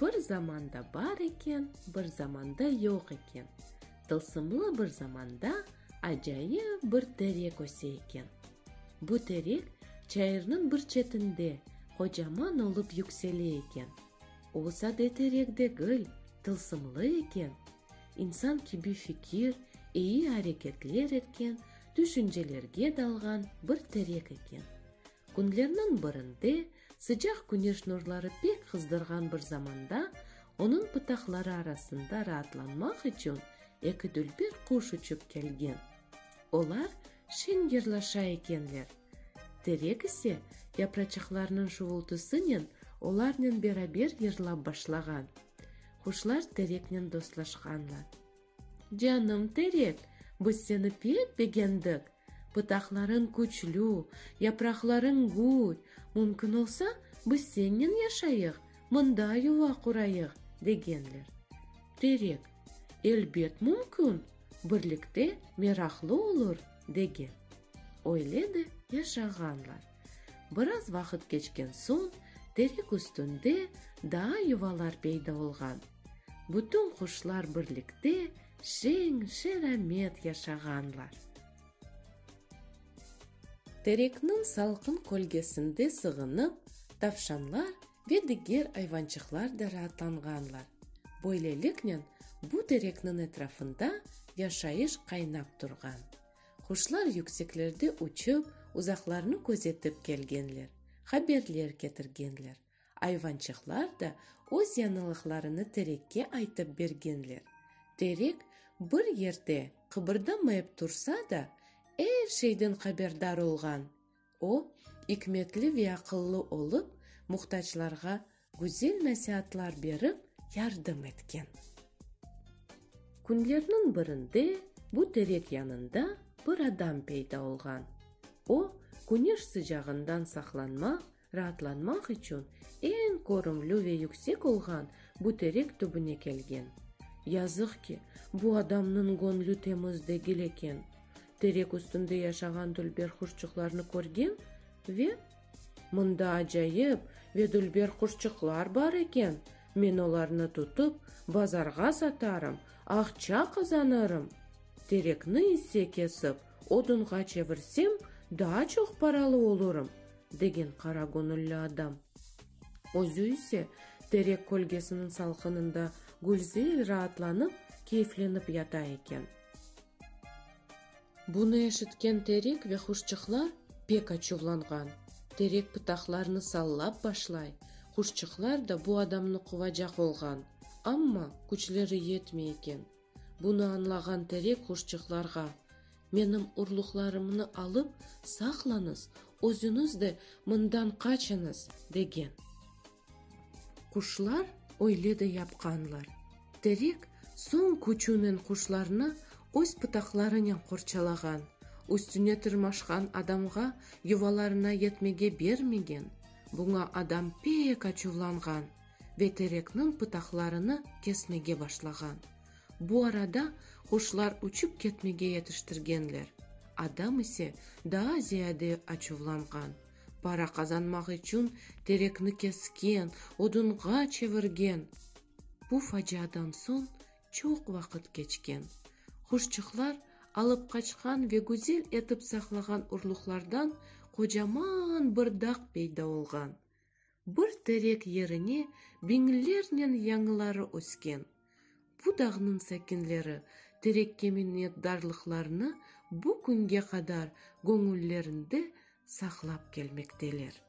Bir zamanda bar eken, bir zamanda yoq eken, Tılsımlı bir zamanda acayip bir terek öse eken. Bu terek çayırnıñ bir çetinde qocaman olıp yüksele eken. O sade terek degil, tılsımlı eken. İnsan kibi fikir, eyi areketler etken, tüşüncelerge dalğan bir terek eken. Künlerniñ birinde, sıcaq küneş nurları pek qızdırğan bir zamanda, onıñ pıtaqları arasında raatlanmaq içün eki dülber quş uçıp kelgen. Olar şeñ yırlaşa ekenler. Terek ise, yapraçıqlarnıñ şuvultısınen olarnen beraber yırlap başlağan. Quşlar tereknen dostlaşqanlar. Canım terek, biz seni pek begendik, pıtaqlarıñ küçlü, yapraqlarıñ gür, mümkün olsa, biz sennen yaşayıq, mında yuva qurayıq, degenler. Terek, Elbet mümkün, birlikte meraqlı olur, degen. Öyle de yaşağanlar. Biraz vaqıt keçken soñ terek üstünde daa yuvalar peyda olğan. Bütün quşlar birlikte şeñ, şeramet yaşağanlar. Terekniñ salqın kölgesinde sığınıp, tavşanlar ve diger ayvançıqlar da raatlanğanlar. Böyleliknen, bu terekniñ etrafında yaşayış qaynap turğan. Quşlar yükseklerde uçıp, uzaqlarnı közetip kelgenler, haberler ketirgenler, ayvançıqlar da öz yañılıqlarını terekke aytıp bergenler. Terek bir yerde qıbırdamayıp tursa da, er şeyden haberdar olğan, O, ikmetli ve aqıllı olıp, muhtaclarğa güzel nasiatlar berip, yardım etken. Künlerniñ birinde bu terek yanında bir adam peyda olğan. O, küneş sıcağından saqlanmaq, raatlanmaq içün eñ körümli ve yüksek olğan bu terek tübüne kelgen. Yazıq ki, bu adamnıñ göñlü temiz degil eken. Terek üstünde yaşağan dülber quşçuqlarnı körgen ve, Mında acayip ve dülber quşçuqlar bar eken, men olarnı tutıp, bazarğa satarım, aqça qazanırım, terekni ise kesip, odunğa çevirsem, daa çoq paralı olurım, degen qara göñülli adam. Özü ise terek kölgesiniñ salqınında gülzel raatlanıp, keyflenip yata eken. Bunı eşitken terek ve quşçıqlar pek açuvlanğan. Terek pıtaqlarını sallap başlay, quşçıqlar da bu adamnı quvacaq olğan, amma küçleri yetmey eken. Bunı añlağan terek quşçıqlarğa, Menim urluqlarımnı alıp saqlañız, özüñiz de mından qaçıñız, degen. Quşlar öyle de yapqanlar. Terek soñ küçünen quşlarnı öz pıtaqlarınen qorçalağan, üstüne tırmaşqan adamğa yuvalarına yetmege bermegen, buña adam pek açuvlanğan ve terekniñ pıtaqlarını kesmege başlağan. Bu arada quşlar uçıp ketmege yetiştirgenler, adam ise daa ziyade açuvlanğan, Para qazanmaq içün terekni kesken, odunğa çevirgen. Bu faciadan soñ çoq vaqıt keçken. Huşçıqlar alıp qaçqan ve güzel etip saqlağan urluqlardan qocaman bir dağ peyda olğan. Bir terek yerine biñlernen yañıları ösken. Bu dağnıñ sakinleri terekke minnetdarlıqlarını bu künge qadar göñüllerinde saqlap kelmekteler.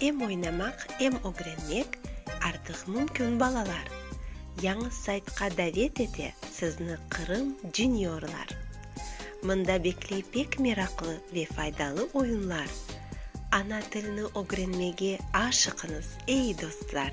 Em oynamaq, em ögrenmek artıq mümkün balalar! Yañı saytqa davet ete sizni Qırım Juniorlar! Mında bekley pek meraqlı ve faydalı oyunlar. Ana tilni ögrenmege aşıqıñız, ey dostlar!